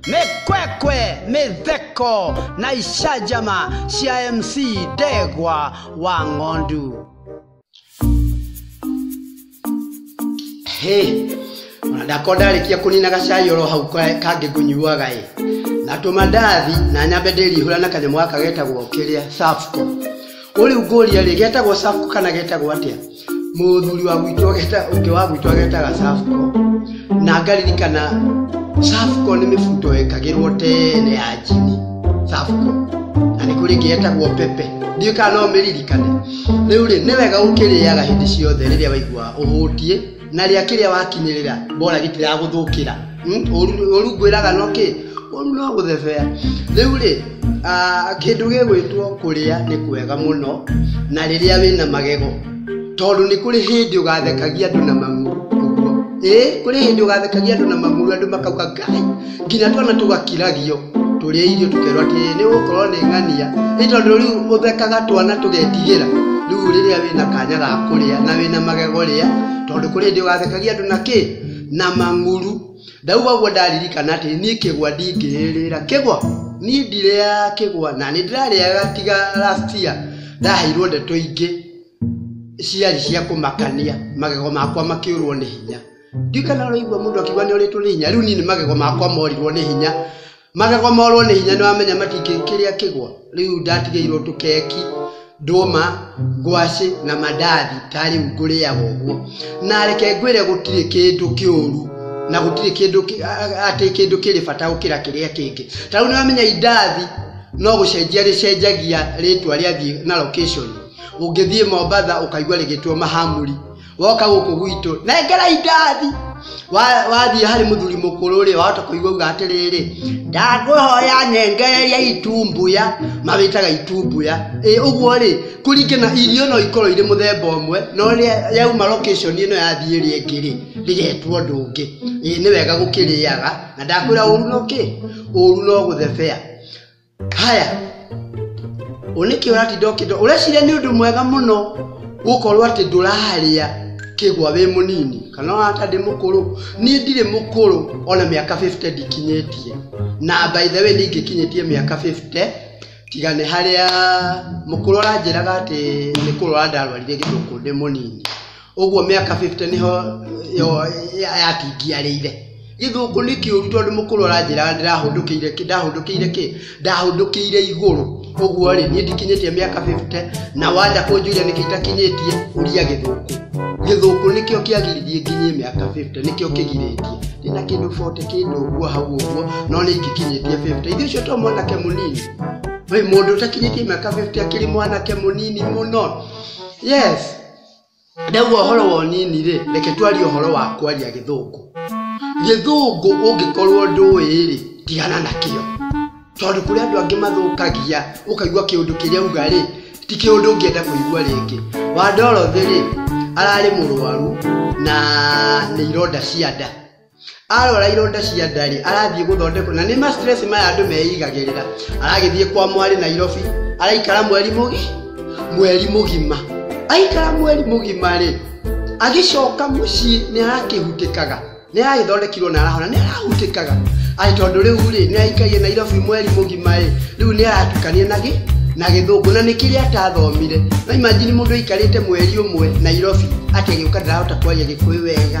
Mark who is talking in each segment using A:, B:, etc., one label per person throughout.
A: mekwekwe mitheko na icanjama cia mc ndegwa wa ng'ondu Hey, ona ndakoo ndarĩkia kũnina gacai oro hau ka- kangĩ ngũnyuaga ĩ na tũmandathi na nyambe ndĩrihũra na kanyamũ gaka getagwo kĩrĩa safco ũrĩu ngũria rĩ getagwo safco kana getagwo atĩa muthuri wa gwitũ ageta ũngĩ wa gwitũ agetaga safco na ngaririkana safco nĩ mĩbuto yekagĩrwo tene ya njini safco na nĩ kũrĩ ĩngĩ yetagwo pepe ndiũ kana no mĩririkane rĩu rĩ nĩ wega ũkĩrĩaga hĩndĩ ciothe rĩrĩa waigua ũhũtiĩ na rĩa kĩrĩa wakinyĩrĩra mbora gĩtiragũthũkĩra ũrungwĩraga no kĩ ũru no gũthebea rĩu rĩ kĩndũ gĩgwĩtwo kũrĩa nĩ kwega mũno na rĩrĩa wĩna magego tondũ nĩ kũrĩ hĩndĩ ũgathekagia andũ na mang'u ũguo ĩĩ kũrĩ hĩndĩ ũgathekagia andũ na mang'u andũ makauga ngai nginya twana tũgakiragio tũrĩa irio tũkerwo atĩ nĩ gũkorwo nĩ ng'ania nĩ tondũ rĩu ũthekaga twana tũgetigĩra rĩu rĩrĩa wĩna kanya ga kũrĩa na wĩna magego rĩa tondũ kũrĩ hĩndĩ ũgathekagia andũ na kĩ na mang'ũrũ. Ndauga ũguo ndaririkana atĩ niĩ kĩgwa ndingĩĩrĩra. Kĩgwa? Niĩ ndirĩaga kĩgwa na nĩ ndĩrarĩaga tiga last year ndaheirwo ndeto ingĩ ciarĩ cia kũmakania magego makwa makĩũrwo nĩ hinya. Ndiũĩ kana ũraigua mũndũ akiuga nĩ orĩtwo nĩ hinya, rĩu niĩ nĩ magego makwa morirwo nĩ hinya. Magego morwo nĩ hinya nĩwamenya matingĩ kĩrĩa kĩgwa rĩu ndatigĩirwo tũkeki ndũma ngwacĩ na mandathi ta rĩu ngũrĩaga ũguo na reke ngwĩre gũtirĩ kĩndũ kĩũru na gũtirĩ kĩndũ kĩ- a- atĩ kĩndũ kĩrĩ bata gũkĩra kĩrĩa kĩngĩ ta rĩu nĩwamenya indathi no gũcenjia rĩcenjagia rĩtwa rĩathiĩ na location ũngĩthiĩ mombatha ũkaigua rĩgĩtwo mahamuri woka gũkũ gwitũ nengerai ndathi Wa- wathiĩ harĩ mũthuri mũkũrũ rĩ wahota kũigua uga atĩrĩrĩ ndangwĩhoya nengereria itumbuya mawĩtaga itumbuya ĩ ũguo rĩ kũringana irio no ikorwo irĩ mũthemba ũmwe no rĩa yauma location ĩno yathiĩ ĩrĩa ĩngĩ rĩ rĩgetwo ũndũ ũngĩ ĩ nĩ wega gũkĩrĩaga na ndakwĩra ũru no kĩ ũru no gũthebea haya oneke urati ndokindo ureciria ni undu mwega muno gukorwo ati nduraria kigwa wi munini kana wata ndi mukuru ni ndiri mukuru ona miaka 50 ndikinyitie na by the way ndingikinyitie miaka 50 tiga nĩ harĩa mũkũrũ aranjĩraga atĩ nĩ kũrwara ndarwarire gĩthũkũ ndĩ mũnini ũguo mĩaka 50 nĩho yo- ya- yatingiarĩire gĩthũngũ nĩ kĩũru tondũ mũkũrũ aranjĩra ndĩrahũndũkĩire kĩ ndahũndũkĩire kĩ ndahũndũkĩire igũrũ ũguo rĩ niĩ ndikinyĩtie mĩaka 50 na wanja kũnjũria nĩkĩ itakinyĩtie ũria gĩthũngũ gĩthũngũ nĩkĩo kĩagiririe nginyie mĩaka 50 nĩkĩo kĩgirĩtie ndĩna kĩndũ 40 kĩndũ ũguo hau ũguo no nĩ ingĩkinyĩtie 50 ithuĩ ũcio to mwanake mũnini Wĩ mũndũ ũtakinyĩtie mĩaka 50 akĩrĩ mwanake mũnini mũno yes Ndauga ũhoro wa ũnini rĩ, reke twarie ũhoro wa kwaria gĩthũngũ. Gĩthũngũ ũngĩkorwo ndũĩ rĩ, tigana nakĩo. Tondũ kũrĩ andũ angĩ mathũkagia, ũkaigua kĩũndũ kĩrĩa auga rĩ, ti kĩũndũ ũngĩenda kũigua rĩngĩ. Wa Dorothy rĩ, ararĩ mũrwaru na nĩ ironda cia nda. arwara ironda cia ndarĩ arathiĩ gũthondekwo na nĩ ma stress maya andũ meigagĩrĩra aragĩthiĩ kwa mwarĩ nairobi araikara mweri mũgi mweri mũgima aikara mweri mũgima rĩ agĩcoka mũciĩ nĩ arakĩhutĩkaga nĩ aragĩthondekirwo na arahona nĩ arahutĩkaga aĩ tondũ rĩu rĩ nĩ aikaire nairobi mweri mũgima rĩ rĩu nĩ aratukania na gĩ na gĩthũngũ na nĩ kĩrĩa atathomire no imagine mũndũ aikarĩte mweri ũmwe nairobi atĩ agĩũka ndarahota kwaria gĩkũyũ wega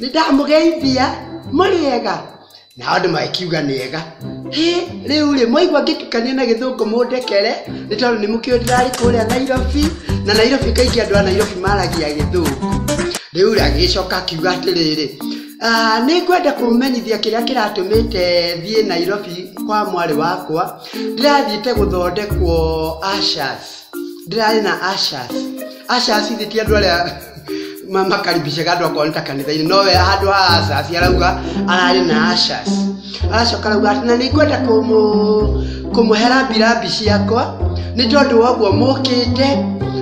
A: Nĩndamũgeithia. Mũrĩega? Nao andũ magĩkiuga nĩega. Hĩ, rĩu-rĩ, mwaigua ngĩtukania na gĩthũngũ mũndekere, nĩ tondũ nĩmũkĩũĩ ndĩrarĩ kũrĩa Nairobi, na Nairobi kaingĩ andũ a Nairobi maragia gĩthũngũ. Rĩu-rĩ, agĩgĩcoka akiuga atĩrĩrĩ, "Ah, nĩngwenda kũmũmenyithia kĩrĩa kĩratũmĩte thiĩ Nairobi kwa mwarĩ wakwa. Ndĩrathiĩte gũthondekwo Ushers." ndĩrarĩ na ashas ashas thĩ ti andũ arĩa ma- makaribishaga andũ akorwo nĩ ta kanitha-inĩ nowe handũ ha ashas arauga ararĩ na ashas aracoka arauga atĩ na nĩngwenda kũmũ kũmũhe rambirambi ciakwa nĩ tondũ wa ũguo mũkĩte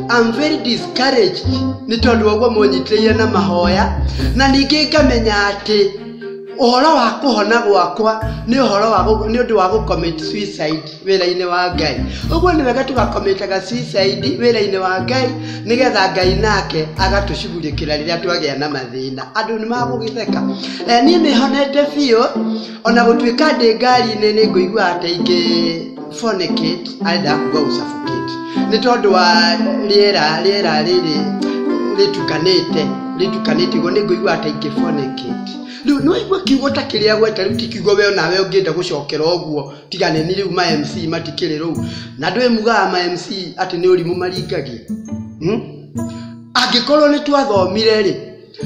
A: I'm very discouraged nĩ tondũ wa ũguo mũnyitĩrĩire na mahoya na ningĩ ngamenya atĩ ũhoro wa kũhona gwakwa nĩ ũhoro wa gũ- nĩ ũndũ wa gũcommit suicide wĩra-inĩ wa ngai ũguo nĩ wega tũgakomĩtaga suicide wĩra-inĩ wa ngai nĩgetha ngai nake agatũcugurĩkĩra rĩrĩa twagĩa na mathĩna andũ nĩ magũgĩtheka Eh, niĩ nĩ honete biũ ona gũtuĩka ndĩ ngari-inĩ nĩ ngũiguaga ta ingĩ fornicate arenda kuga gũcabũkĩte nĩ tondũ wa rĩera rĩera rĩrĩ rĩtukanĩte rĩtukanĩte guo nĩ ngũigua ta ingĩ fornicate rĩu nĩ waigua kiugo ta kĩrĩa gweta rĩu ti kiugo we onawe ũngĩenda gũcokera ũguo tiga nĩ niĩ rĩu ma MC matikĩrĩ rũu na ndũĩ mugaga ma MC atĩ nĩ ũrimũ maringagia hmm? angĩkorwo nĩ twathomire rĩ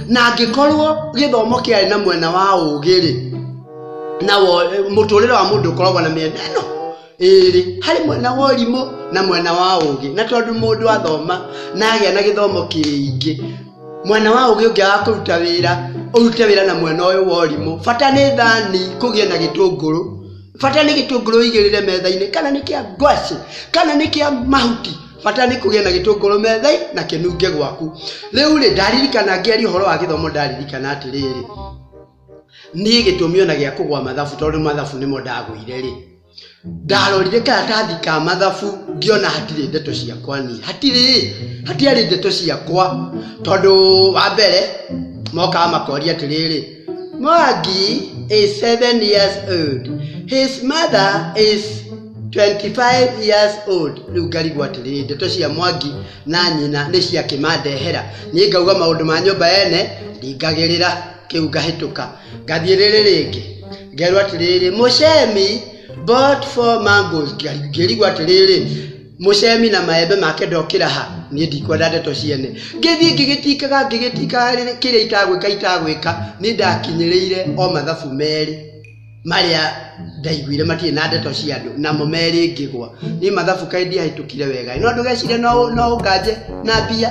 A: na angĩkorwo gĩthomo kĩarĩ na mwena wa ũgĩ rĩ na mũtũrĩre wa mũndũ ũkoragwo na mĩena ĩno ĩrĩ harĩ mwena wa ũrimũ na mwena wa ũgĩ na tondũ mũndũ athoma na agĩa na gĩthomo kĩingĩ Mwena wa ũgĩ ũngĩaga kũruta wĩra, ũrute wĩra na mwena ũyũ wa ũrimũ. Bata nĩ thani kũgĩe na gĩtũngũrũ, bata nĩ gĩtũngũrũ ũigĩrĩre metha-inĩ, kana nĩ kĩa ngwacĩ, kana nĩ kĩa mahuti, bata nĩ kũgĩe na gĩtũngũrũ metha-inĩ na kĩnunge gwaku. Rĩu rĩ, ndaririkana ngĩaria ũhoro wa gĩthomo ndaririkana atĩrĩrĩ, niĩ gĩtũmi ona gĩa kũgwa mathabu tondũ mathabu nĩmo ndagũire rĩ, ndarorire karatathi ka mathabu ngĩona hatirĩ ndeto ciakwa niĩ hatirĩ hatiarĩ ndeto ciakwa tondũ wa mbere mokaga makoria atĩrĩrĩ mwangi is seven years old his mother is 25 years old rĩu ngarigwo atĩrĩrĩ ndeto cia mwangi na nyina nĩ cia kĩmandehera niĩ ngauga maũndũ ma nyũmba ene ndingagĩrĩra kĩu ngahĩtũka ngathiĩ rĩrĩ rĩngĩ ngerwo atĩrĩrĩ mũcemi bought four mangoes ngĩrigwo atĩrĩrĩ mũcemi na maembe make ndokĩra ha niĩ ndikwenda ndeto ciene ngĩthiĩ ngĩgĩtikaga ngĩgĩtikaga rĩrĩ- kĩrĩa itagwĩka itagwĩka nĩ ndakinyĩrĩire o mathabu merĩ marĩa ndaiguire matirĩ na ndeto cia andũ namo merĩ ngĩgwa niĩ mathabu kaĩ ndiahĩtũkire wega no ndũgecire no no nganje na mbia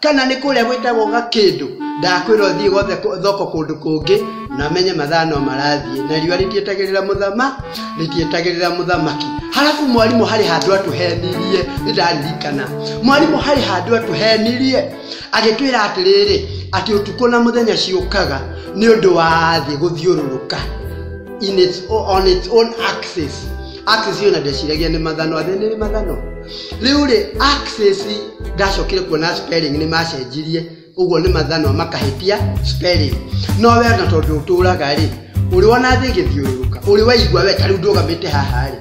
A: kana nĩ kũrĩa gwĩtagwo gakĩndũ ndakwĩra ũthiĩ gothe kũ- thoko kũndũ kũngĩ na menye mathaa no marathiĩ na riũa rĩtietagĩrĩra mũthama rĩtietagĩrĩra mũthamaki halafu mwarimũ harĩ handũ atũhenirie nĩndaririkana mwarimũ harĩ handũ atũhenirie agĩtwĩra atĩrĩrĩ atĩ ũtukũ na mũthenya ciũkaga nĩ ũndũ wa thĩ gũthiũrũrũka in its, on its own axis Axis ĩyo na ndeciragia nĩ mathano athe nĩ mathano rĩu rĩ axis ndacokire kuona spelling nĩ macenjirie ũguo nĩ mathano makahĩtia spelling no we na tondũ ũtũraga rĩ ũrĩ wona thĩ ĩgĩthiũrũrũka ũrĩ waigua we tarĩu ndũgamĩte haha rĩ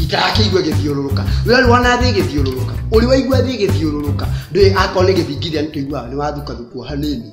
A: itarakĩigua ĩgĩthiũrũrũka we ũrĩ wona thĩ ĩgĩthiũrũrũka ũrĩ waigua thĩ ĩgĩthiũrũrũka ndũĩ akorwo nĩ gĩthingithia nĩ tũiguaga nĩ wathukathukwo hanini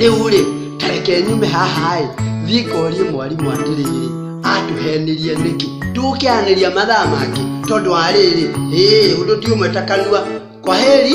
A: rĩu rĩ tareke nyume haha ĩ thiĩ ngorie mwarimũ atĩrĩrĩ atũhenirie nĩkĩ tũgũkĩanĩria mathaa mangĩ tondũ wa rĩrĩ ĩĩ ũndũ ti ũmwe ta kanua kwa heri